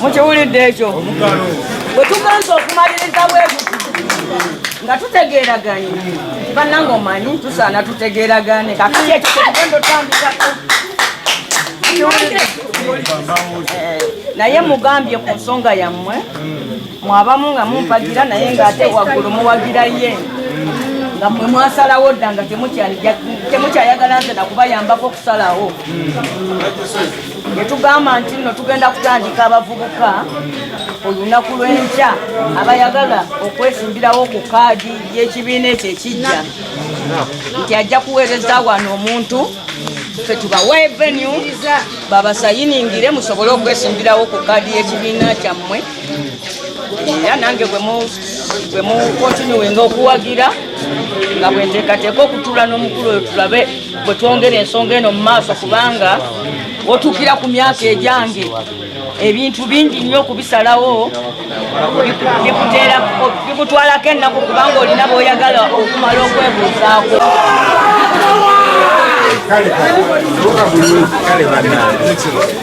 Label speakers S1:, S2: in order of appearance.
S1: mukiwulidde ekyo bwe tugenza okumaliriza bwebuti nga tutegeeraganye bananga omanyi tusaana tutegeeragane kakati ekyo kyetugenda otandikako eh, naye mugambye ku nsonga yammwe mwabamu nga mumpagira naye ng'ate waggulu muwagira ye nga mwe mwasalawo dda nga temukyayagala nze nakubayambako okusalawo netugamba nti nno tugenda kutandika abavubuka olunaku lw'enkya abayagala okwesimbirawo ku kaadi y'ekibiina ekyo ekijja nti ajja kuweereza wano omuntu fe tubawe venue babasayiningire musobole okwesimbirawo ku kaadi y'ekibiina kyammwe era nange bwe mukontinuwenga okuwagira nga bwenteekateeka okutuula n'omukulu oyo tulabe bwe twongera ensonga eno mu maaso kubanga otuukira ku myaka egyange ebintu bingi nnyo okubisalawo bikutwalako ennaku kubanga olina bwoyagala okumala okwebuuzaako kale kale kale